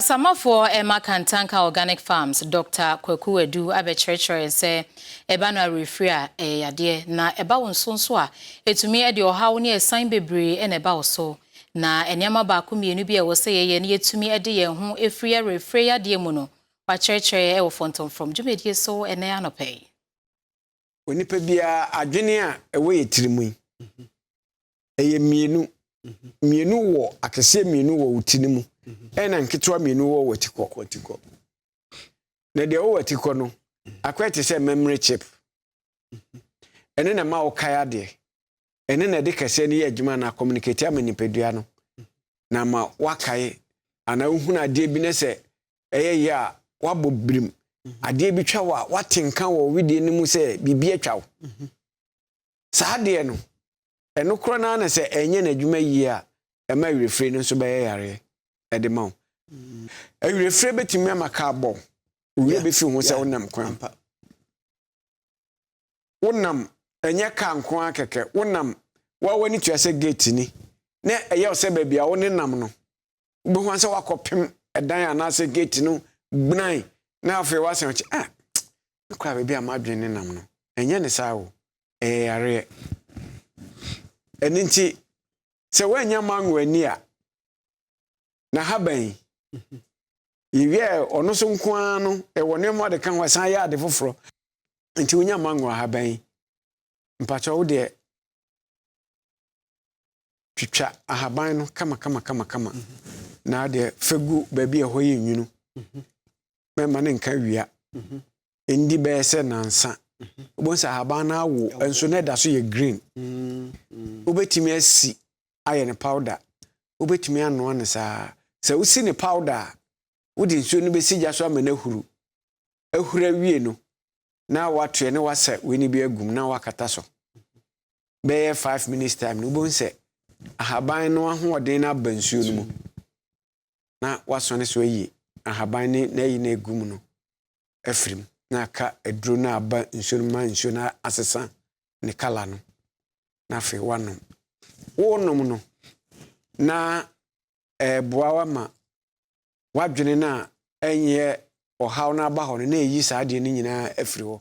Asamoafoɔ mma Kantanka Organic Farms Dɔkta Kwaku Adu abɛkyerɛkyerɛ yɛn sɛ ɛba no awerɛfiri a, ɛyɛ yadeɛ, na ɛba wo nso nso a, ɛtumi de ɔhaw ne asiane bebree na ɛba wo so. Na nneɛma baako mmienu bi a ɛwɔ sɛ yɛyɛ na yɛatumi de yɛn ho afiri awerɛfire yadeɛ mu no, wɔakyerɛkyerɛ wɔ Fɔntɔmfrɔm dwumadie so ɛnnɛ anɔpa yi. onipa biara adwene a ɛwɔ yɛ tiri mu yi ɛyɛ mmienu mmienu wɔ akɛseɛ mmienu wɔ wo ti no mu ɛna nketewa mmienu wɔ wɔ atikɔ na deɛ wɔwɔ atikɔ no akɔyɛ te sɛ memory chip ɛne na ma wokae adeɛ ɛne na ɛde kɛseɛ no yɛ adwuma na communicate ama nipadua no na ma wakae anaa wohunu adeɛ bi ne sɛ ɛyɛ yɛ a woabɔ birim mhm. adeɛ bi twa wo a woate nka wɔ wedeɛ no mu sɛ biribi atwa wo mhm. saa adeɛ no ɛno korɔ no na sɛ ɛnyɛ n'adwuma yie a ɛma awerɛfire no nso bɛyɛ yareɛ ɛde ma wo mhm. awerɛfire bɛtumi ama kaa bɔ wo werɛ bɛfi ho sɛ wonam kwan wonam ɛnyɛ car nko ara kɛkɛ wonam wa w'ani tua sɛ gate ni na ɛyɛ sɛ baabi a wone nam no wobɛhu sɛ wakɔpem ɛdan anaasɛ gate no gbunan na afei wasan kyɛ ah mekora baabi a madwene ne nam no ɛnyɛ ne saa o ɛyɛ yareɛ ɛno nti sɛ woanya mango ani a na ha bɛn yɛwie ɔno so nko ara no ɛwɔ nneɛma ɔde ka ho ɛsan yɛ ade foforɔ nti wonya mango ha bɛn mpakyɛ wo deɛ twitwa ahaban no kama kama kama kama na deɛ fɛ gu baabi ɛhɔ yɛ nwunu mɛma ne nka wia ndi bɛyɛ sɛ nansa wobɛhu sɛ ahaban no awo nso na ɛda so yɛ green wobɛtumi asi ayɛ no pawda. Wubetumi anoa no saa. Sɛ wusi no pawda a, wode nsuo no bɛsi gya so ama no ahuru. Ahuru awie no, na woatoɛ na woasa wei no bi agu mu na woakata so. Bɛyɛ five minutes time no, wobɛhu sɛ ahaban no ahoɔden no aba nsuo no mu na woasɔne so ayi ahaban ne n'ayi no agu mu no afiri mu na aka aduro no aba nsuo no ma nsuo no asesa ne kala no. na afei woanom. Wonom no na ɛreboa wo ama w'adwene no a ɛnyɛ ɔhaw no aba hɔ no na ɛyi saa adeɛ no nyinaa afiri hɔ.